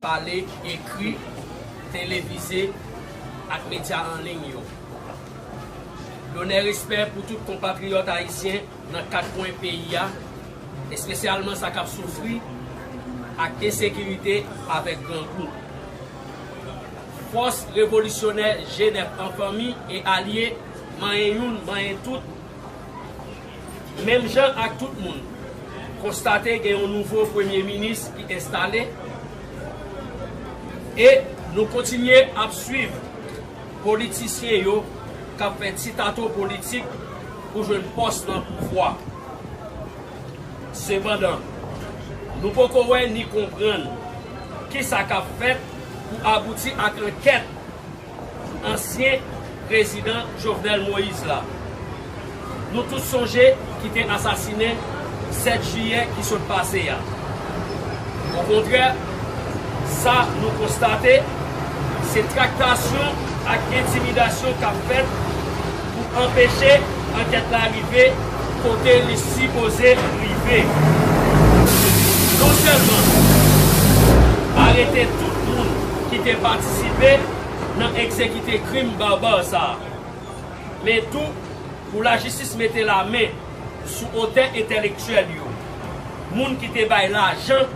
pale, ekri, televize ak medya an liy yo. Lonè respè pou tout konpatriyòt ayisyen nan kat kwen peyi a, espesyalman sa k ap soufri ak ensekirite avèk grangou. Fòs revolisyonè Jenèf an fanmi e alye manyen youn manyen tout, Menm jan ak tout moun, konstate gen yon nouvo premye minis ki enstale e nou kontinye ap swiv politisyen yo k ap fè ti tato politik pou jwenn pòs nan pouvwa. Sepandan, nou poko wè ni konprann kisa k ap fèt pou abouti ak ankèt. ansyen prezidan Jovenel Moïse la, nou tout sonje ki te asasinen 7 jiyè ki sot pase a. Okontrè, sa nou konstate, se traktasyon ak entimidasyon k ap fèt pou anpeche ankèt la rive kote li sipoze rive. Non sèlman arete tout moun ki te patisipe nan egzekite krim barbar sa a, men tou pou lajistis mete lamen sou otè entèlektyèl yo, moun ki te bay lajan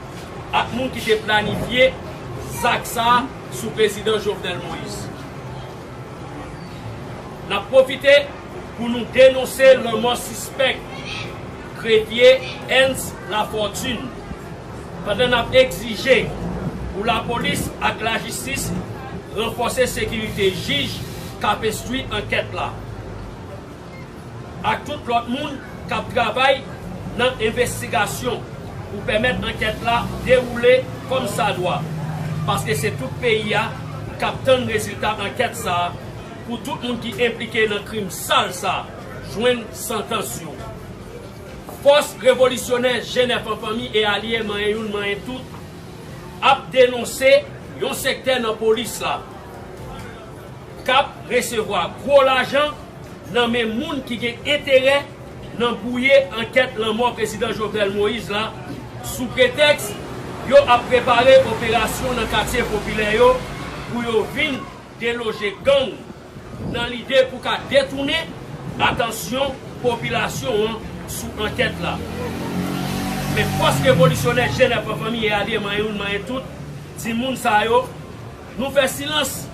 ak moun ki te planifye zak sa a sou Prezidan Jovenel Moïse. N ap pwofite pou nou denonse lanmò sispèk grefye Ernst Lafortune pandan n ap egzije pou lapolis ak lajistis ranfòse sekirite jij k ap enstwi ankèt la. ak tout lòt moun k ap travay nan envestigasyon pou pèmèt ankèt la dewoule kòmsadwa, paske se tout peyi a k ap tann rezilta ankèt sa a pou tout moun ki enplike nan krim sal sa a jwenn santans yo. Fòs Revolisyonè Jenèf an Fanmi e Alye Manyen Youn Manyen Tout ap denonse yon sektè nan polis la, k ap resevwa gwo lajan nan men moun ki gen enterè nan bwouye ankèt lanmò Prezidan Jovenel Moïse la sou pretèks yo ap prepare operasyon nan katye popilè yo pou yo vin deloje gang nan lide pou ka detounen atansyon popilasyon an sou ankèt la. Men fòs revolisyonè Jenè Pran Fanmi Eade Manyen Youn Manyen Tout di moun sa yo, Nou fè silans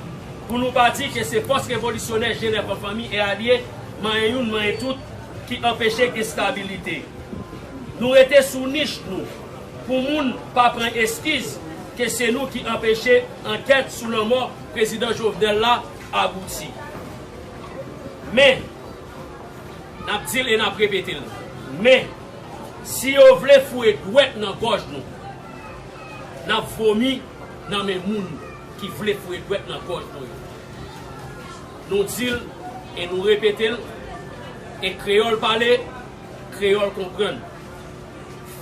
pou nou pa di ke se fòs revolisyonè Jenèv an fanmi e alye, manyen youn manyen tout, ki anpeche enstabilite. Nou rete sou nich nou pou moun pa pran eskiz ke se nou ki anpeche ankèt sou lanmò Prezidan Jovenel la abouti. Men, n ap di l e n ap repete l, men, si yo vle foure dwèt nan gòj nou, n ap vomi. Nan men moun ki vle foure dwèt nan gòj nou yo. Nou di l e nou repete l, e kreyòl pale, kreyòl konprann.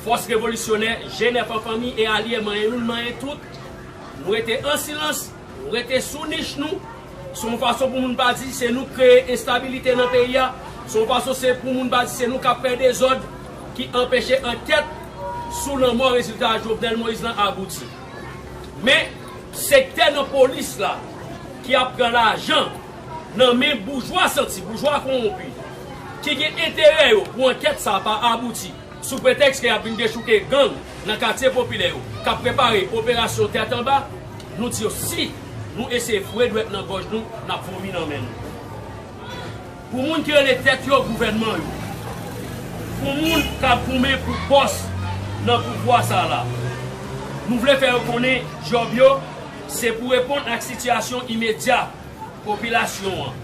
Fòs revolisyonè, Jenèf an fanmi e alye manyen youn manyen tout, nou rete an silans, nou rete sou nich nou, se yon fason pou moun pa di se nou k kreye enstabilite nan peyi a, se yon fason se pou moun pa di se nou k ap fè dezòd ki anpeche ankèt sou lanmò rezilta Jovenel Moïse lan abouti. Men, sektè nan polis la ki ap pran lajan nan men boujwa santi, boujwa kowonpi, ki gen enterè yo pou ankèt sa pa abouti, sou pretèks ke y ap vin dechouke gang nan katye popilè yo, k ap prepare operasyon tèt anba, nou di yo si nou eseye foure dwèt nan gòj nou, n ap vomi nan men nou. Pou moun ki rele tèt yo gouvènman yo. Pou moun k ap goumen pou pòs nan pouvwa sa a la. Nou vle fè yo konnen djòb yo se pou reponn ak sitiyasyon imedya popilasyon an.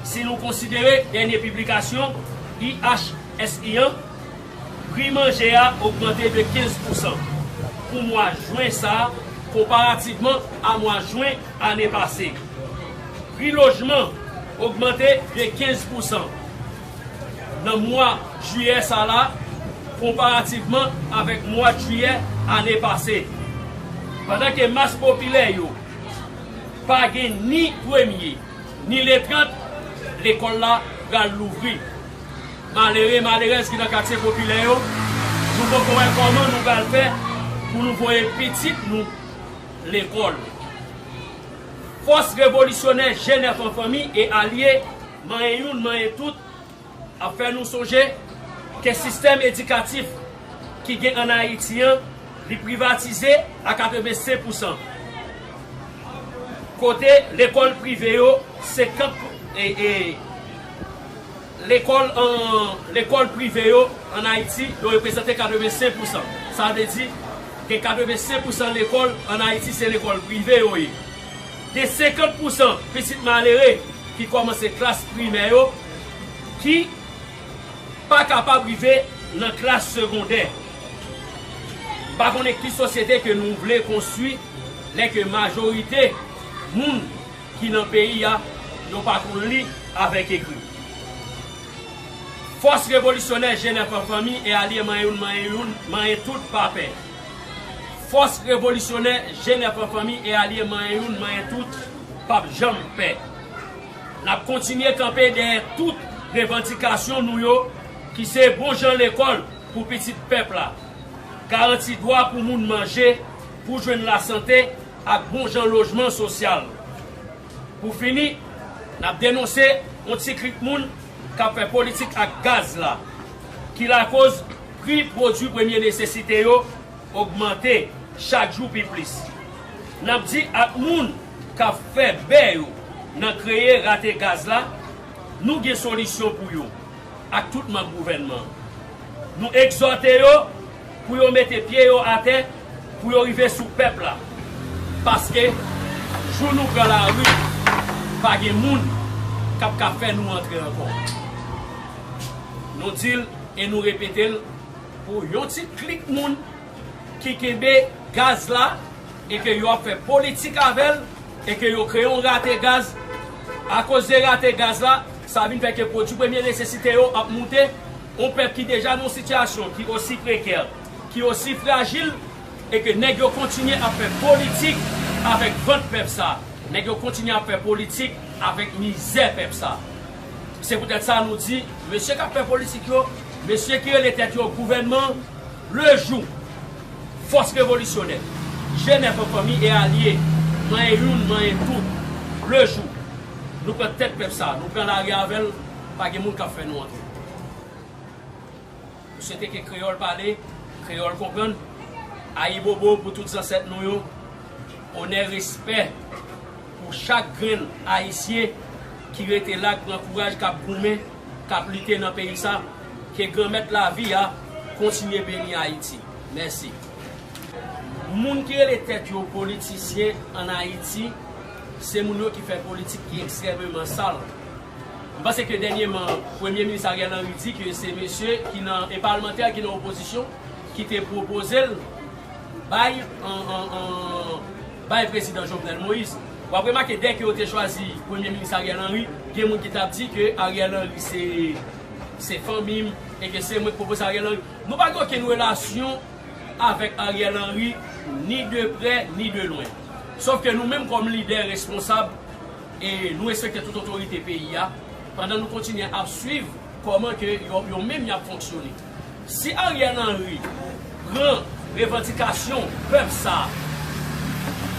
Si nou konsidere dènye piblikasyon IHSI an. Pri manje a ogmante de 15 pousan pou mwa Jwen sa konparativman a mwa Jwen ane pase. Pri lojman ogmante de 15 pousan nan mwa Jiyè sa la konparativman avèk mwad Jiyè ane pase. Pandan ke mas popilè yo pa gen ni premye ni le 30, lekòl la pral louvri. Malere, malerèz ki nan katye popilè yo, nou poko wè kòman nou pral fè pou nou voye pitit nou lekòl. Fòs revolisyonè Jèn Èfò Fanmi e Alye, manyen youn manyen tout, ap fè nou sonje ke sistèm edikatif ki gen an Ayiti an, li privatize a 85 pousan. Kote lekòl prive yo 50 pou. Lekòl an Lekòl prive yo ann Ayiti yo reprezante 85 pousan. Sa vle di, gen 85 pousan lekòl ann Ayiti se lekòl prive yo ye. Gen 50 pousan pitit malere ki kòmanse klas primè yo ki pa kapab rive nan klas segondè. M pa konnen ki sosyete ke nou vle konstwi lè ke majorite moun. ki nan peyi a yo pa konn li avèk ekri. Fòs revolisyonè Jenèf an fanmi e alye manyen youn manyen youn manyen tout pa pè Fòs revolisyonè Jenèf an fanmi e alye manyen youn manyen tout p ap janm pè N ap kontinye kanpe dèyè tout revandikasyon nou yo ki se bon jan lekòl pou pitit pèp la garanti dwa pou moun manje pou jwenn lasante ak bon jan lojman sosyal. Pou fini, n ap denonse yon ti klik moun k ap fè politik ak gaz la, ki lakoz pri pwodui premye nesesite yo ogmante chak jou pi plis. N ap di ak moun k ap fè bè yo nan kreye rate gaz la, nou gen solisyon pou yo ak tout manm gouvènman an. Nou egzòte yo. Pou yo mete pye yo atè, pou yo rive sou pèp la. Paske, jou nou pran lari, pa gen moun k ap ka fè nou antre ankò. Nou di l e nou repete l pou yon ti klik moun ki kenbe gaz la e ke yo ap fè politik avè l e ke yo kreye yon rate gaz. Akoz de rate gaz la, sa vin fè ke pwodui premye nesesite yo ap moute. On pèp ki deja nan yon sitiyasyon ki osi prekè, ki osi frajil e ke nèg yo kontinye ap fè politik avèk vant pèp sa, nèg yo kontinye ap fè politik avèk mizè pèp sa. Se poutèt sa nou di mesye k ap fè politik yo, mesye ki rele tèt yo gouvènman, le jou fòs revolisyonè, jenèf an fanmi e alye, manyen youn, manyen tout, le jou nou pran tèt pèp sa, nou pran lari avè l, Pa gen moun kap fè nou antre. M swete ke kreyòl pale, kreyòl konprann. Ayibobo pou tout zansèt nou yo. Onè respè pou chak grenn Ayisyen ki rete la, k pran kouraj, k ap goumen, k ap lite nan peyi sa. Ke Granmèt lavi a kontinye beni Ayiti. Mèsi. Moun ki rele tèt yo politisyen an Ayiti, se moun yo ki fè politik ki ekstrèmeman sal. M panse ke dènyeman Premye Minis Ariel Henry di ke se mesye ki nan e palmantè ki nan opozisyon ki te pwopoze l bay bay Prezidan Jovenel Moïse. W ap remake dè ke yo te chwazi Premye Minis Ariel Henry, gen moun ki t ap di ke Ariel Henry se se fanmi m e ke se mwen ki pwopoze Ariel Henry. Nou pa gen okenn relasyon avèk Ariel Henry ni de prè ni de lwen. Sof ke nou menm kòm lidè responsab, E nou respekte tout otorite peyi a pandan nou kontinye ap swiv kòman ke yo menm yap fonksyone. Si Ariel Henry pran revandikasyon pèp sa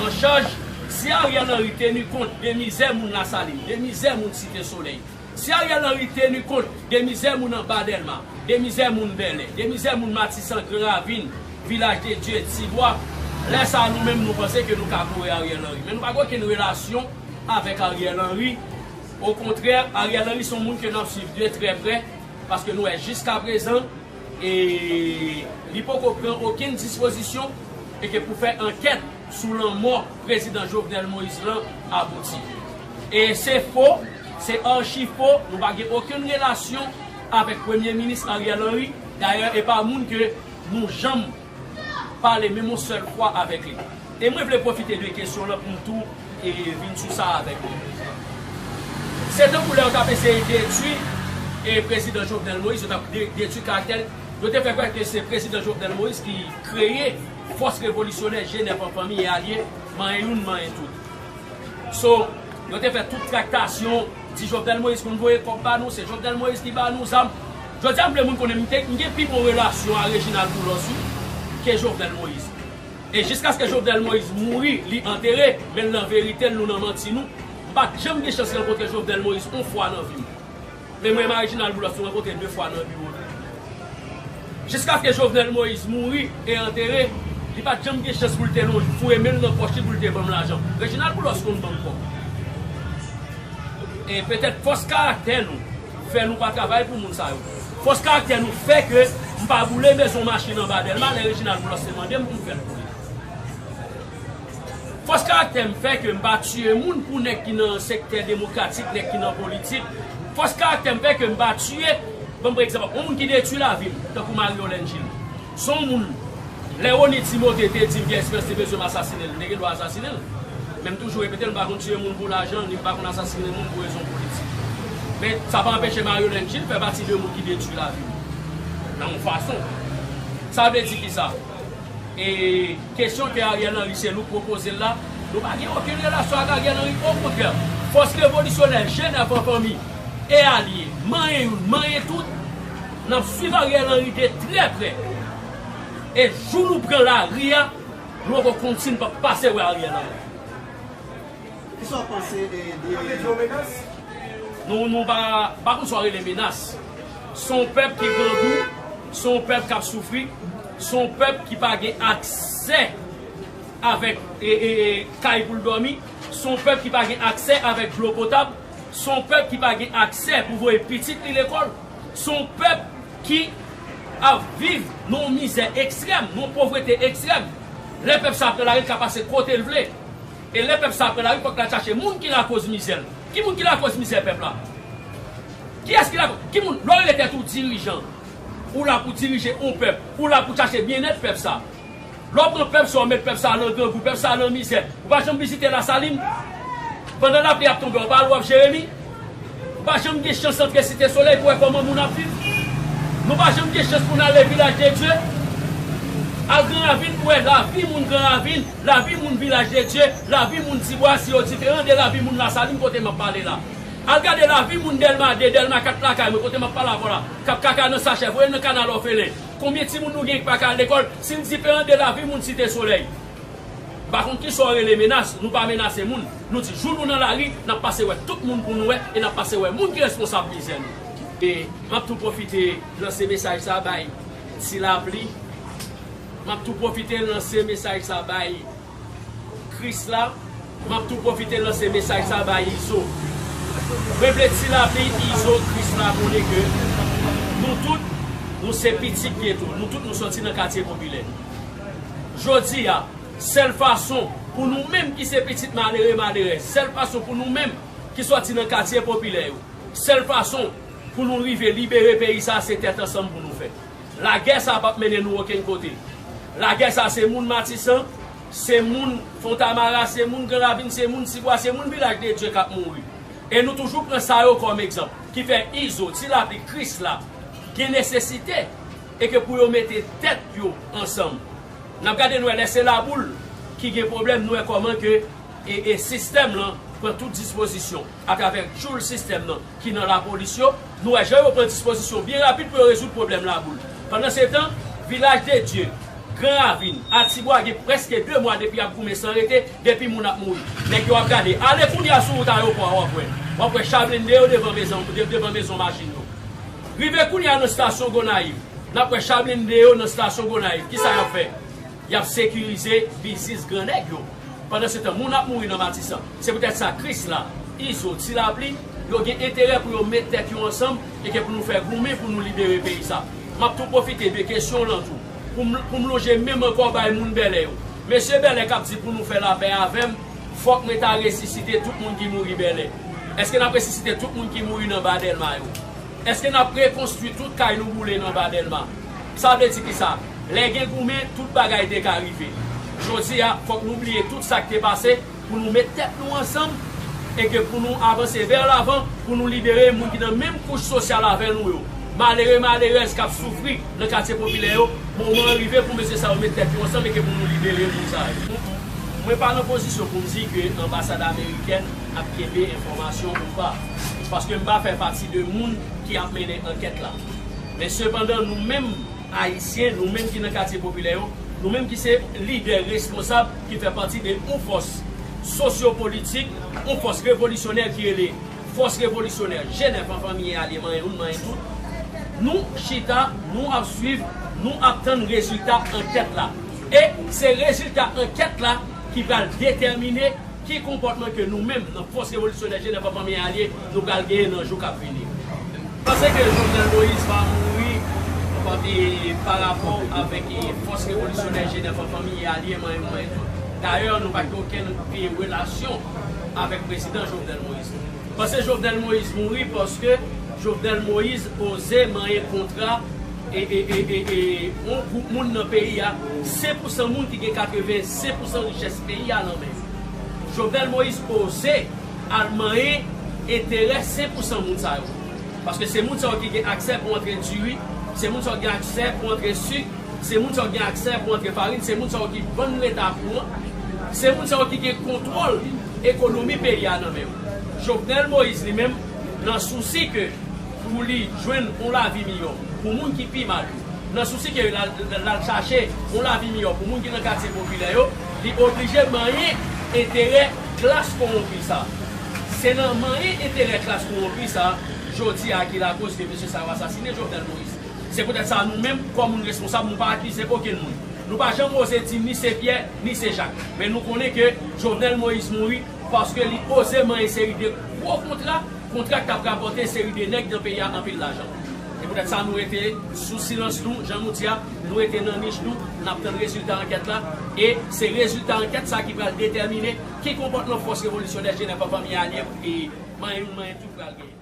an chaj, si Ariel Henry tenu kont de mizè moun Lasalin, de mizè moun Site Solèy, Si Ariel Henry tenu kont de mizè moun anba Delma, de mizè moun Bèlè, de mizè moun Matisan, Gran Ravin, Vilaj de Dye, Tibwa, lè sa a nou menm nou panse ke nou ka kore Ariel Henry. Men nou pa gen okenn relasyon avèk Ariel Henry. Okontrè, Ariel Henry se yon moun ke n ap swiv de trè prè paske nou wè jiskaprezan e li poko pran okenn dispozisyon e ke pou fè ankèt. sou lanmò prezidan Jovenel Moïse lan abouti. E se fo, se archi fo, nou pa gen okenn relasyon avèk premye minis Ariel Henry, dayè e pa moun ke nou janm pale menm yon sèl fwa avèk li. E mwen vle pwofite de kesyon lan pou m tou e vin sou sa avèk nou. Se tankou lè yo t ap eseye detwi e prezidan Jovenel Moïse, yo t ap detwi karaktè l, yo te fè kwè ke se prezidan Jovenel Moïse ki kreye, Fòs revolisyonè Jenèf an fanmi e alye, manyen youn manyen tout. So, yo te fè tout traktasyon, di Jovenel Moïse konn voye kòb ba nou, se Jovenel Moïse ki ba nou zam. Jodi a m vle moun konnen m te, m gen pi bon relasyon a Reginald Boulos wi, ke Jovenel Moïse. E jiskaske Jovenel Moïse mouri, li antere, men l nan verite l, nou nan manti nou. M pa t janm gen chans rankontre Jovenel Moïse on fwa nan vi m. Men mwen ma Reginald Boulos nou rankontre 2 fwa nan biwo li. Jiskaske Jovenel Moïse mouri e antere, li pa t janm gen chans pou l te lonj foure men l nan pòch li pou l te ban m lajan. Reginald Boulos konn ban m kòb. E petèt fòs karaktè nou fè nou pa travay pou moun sa yo. Fòs karaktè nou fè ke m pa boule mezon machin anba Dèlma lè Reginald Boulos te mande m pou m fè l boule. Fòs karaktè m fè ke m pa tiye moun pou nèg ki nan sektè demokratik, nèg ki nan politik. Fòs karaktè m fè ke m pa tiye, ban m pran egzanp ak yon moun ki detwi lavi m, tankou Marie-Yolène Gilles. Se yon moun, lè Rony Timothé te di m Pierre Esperance te bezwen m asasine l, m te gen dwa asasine l. Men m toujou repete l, m pa konn tiye moun pou lajan, ni m pa konn asasine moun pou rezon politik. Men, sa pa anpeche Marie-Yolène Gilles fè pati de moun ki detwi lavi m, nan yon fason. Sa vle di kisa? E kesyon ke Ariel Henry se nou k pwopoze l la, nou pa gen okenn relasyon ak Ariel Henry, okontrè, fòs revolisyonè, jenn ak an fanmi, e alye, manyen youn, manyen tout, n ap swiv Ariel Henry de trè prè, e jou nou pran lari a, nou poko konn si n p ap pase wè Ariel Henry. Kisa w panse de yon menas? Nou nou pa pa konn sa w rele menas. Se yon pèp ki grangou, se yon pèp k ap soufri, se yon pèp ki pa gen aksè avèk kay pou l dòmi, se yon pèp ki pa gen aksè avèk dlo potab, se yon pèp ki pa gen aksè pou voye pitit li lekòl, se yon pèp ki ap viv nan yon mizè ekstrèm, nan yon povrete ekstrèm. Lè pèp sa ap nan lari, l ka pase kote l vle. E lè pèp sa a pran lari fòk l al chache moun ki lakoz mizè l. Ki moun ki lakoz mizè pèp la? Kiyès ki lakoz? Ki moun? Lè w rele tèt ou dirijan, ou la pou dirije yon pèp, ou la pou chache byennèt pèp sa a. Lè w pran pèp sa a w met pèp sa a lan grangou, pèp sa a lan mizè, ou pa janm vizite Lasalin? Pandan lapli ap tonbe w pa al wòf Jeremi? Ou pa janm gen chans antre Site Solèy pou wè kòman moun ap viv? Nou pa janm gen chans pou n ale Vilaj de Dye? Al Gran Ravin pou wè lavi moun Gran Ravin? Lavi moun Vilaj de Dye, lavi moun Tibwa si yo diferan de lavi moun Lasalin kote m ap pale la. Al gade lavi moun Dèlma 2, Dèlma 4 lakay mwen kote m ap pale avè w la k ap kaka nan sachè voye nan kanal òfelen. Konbyen timoun nou genyen ki pa ka al lekòl si l diferan de lavi moun Site Solèy? M pa konn kisa w rele menas, nou pa menase moun. Nou di jou nou nan lari n ap pase wè tout moun pou nou wè e n ap pase wè moun ki responsab mizè nou. E m ap tou pwofite lanse mesaj sa bay Tilapli Map tou pwofite lanse mesaj sa bay Krisla Map tou pwofite lanse mesaj sa bay Izo Mwen vle ti lapli Izo Krisla konnen ke nou tout nou se pitit geto nou tout nou soti nan katye popilè Jodi a sèl fason pou nou menm ki se pitit malere malerèz sèl fason pou nou menm ki soti nan katye popilè yo sèl fason pou nou rive libere peyi sa se tèt ansanm pou nou fè. Lagè sa pap mennen nou okenn kote. Lagè sa se moun Matisan, se moun Fontamara, se moun Gran Ravin, se moun Tibwa, se moun Vilaj de Dye kap mouri. E nou toujou pran sa yo kòm egzanp. Ki fè Izo, Ti Lapli, Krisla gen nesesite e ke pou yo mete tèt yo ansanm. Nap gade nou wè lè se Laboul ki gen pwoblèm nou wè kòman ke sistèm lan pran tout dispozisyon atravè tchoul sistèm lan. ki nan lapolis yo, nou wè jan yo pran dispozisyon byen rapid pou yo rezoud pwoblèm laboul. Pandansetan, Vilaj de Dye, Gran Ravin, Atibwa gen prèske 2 mwa depi y ap goumen san rete, depi moun ap mouri, nèg yo ap gade. Ale kounye a sou wout ayopò a w ap wè. W ap wè cha blende yo devan mezon devan mezon machin yo. Rive kounye a nan stasyon Gonayiv, n ap wè cha blende yo nan stasyon Gonayiv. Kisa y ap fè? Yap sekirize biznis gran nèg yo. Pandan se tan moun ap mouri nan Matisan. Se poutèt sa Krisla, Izo, Ti Lapli, yo gen enterè pou yo met tèt yo ansanm e ke pou nou fè goumen pou nou libere peyi sa. Map tou pwofite de kesyon w lan tou pou m pou m lonje men m ankò bay moun Bèlè yo. Mesye Bèlè kap di pou nou fè lapè avè m, fòk mwen ta resisite tout moun ki mouri Bèlè. Eske nap resisite tout moun ki mouri nan Ba Dèlma yo? Eske nap rekonstwi tout kay nou boule nan anba delma? Sa vle di kisa? Lè gen goumen tout bagay te ka rive. Jodi a fok nou bliye tout sak te pase pou nou met tèt nou ansanm e ke pou nou avanse vè lavan pou nou libere moun ki nan menm kouch sosyal avè nou yo. Malere malerèz kap soufri nan katye popilè yo, moman an rive pou mesye sa yo met tèt yo ansanm e ke pou nou libere moun sa yo. Mwen pa nan pozisyon pou m di ke anbasad amerikèn ap kenbe enfòmasyon ou pa. paske m pa fè pati de moun ki ap mennen ankèt la. Men sepandan nou menm Ayisyen, nou menm ki nan katye popilè yo, nou menm ki se lidè responsab ki fè pati de yon fòs sosyopolitik, yon fòs revolisyonè ki rele Fòs Revolisyonè Jenèf an Fanmi e Alye Manyen Youn Manyen Tout, nou chita, nou ap swiv, nou ap tann rezilta ankèt la. E se rezilta ankèt la ki pral detèmine. Ki konpòtman ke nou menm nan fòs revolisyonè Jenèv ak Fanmi Alye nou pral genyen nan jou kap vini? M panse ke Jovenel Moïse va mouri pa rapò avèk fòs revolisyonè Jenèv ak Fanmi Alye manyen pou manyen tout. Dayè nou pa gen okenn relasyon avèk Prezidan Jovenel Moïse. M panse Jovenel Moïse mouri paske Jovenel Moïse oze manyen kontra ee yon gwoup moun nan peyi a 5 pou 100 moun ki gen 85 pou 100 richès peyi a nan men yo Jovenel Moïse oze al manyen enterè 5 pou 100 moun sa yo paske se moun sa yo ki gen aksè pou antre diri se moun sa yo ki gen aksè pou antre sik se moun sa yo ki gen aksè pou antre farin se moun sa yo ki vann leta kouran se moun sa yo ki gen kontwòl ekonomi peyi a nan men yo Jovenel Moïse li menm nan sousi ke. pou li jwenn yon lavi miyò pou moun ki pi mal yo. Nan sousi ke l al chache yon lavi miyò pou moun ki nan katye popilè yo, li oblije manyen enterè klas kowonpi sa. Se nan manyen enterè klas kowonpi sa jodi a ki lakoz ke mesye sa yo asasine Jovenel Moïse. Se poutèt sa nou menm, kòm moun responsab, nou pa akize okenn moun. Nou pa janm oze di ni se Pyè, ni se Jak. Men nou konnen ke Jovenel Moïse mouri paske li oze manyen seri de gwo kontra, Kontra k tap rapòte seri de nèg nan peyi a anpil lajan. Se poutèt sa nou rete sou silans nou, jan nou di a, nou rete nan nich nou, nap tann rezilta ankèt la, e se rezilta ankèt sa ki pral detèmine ki konpòtman fòs revolisyonè Jenè pa fanmi alye pou peyi manyen youn manyen tout pral genyen.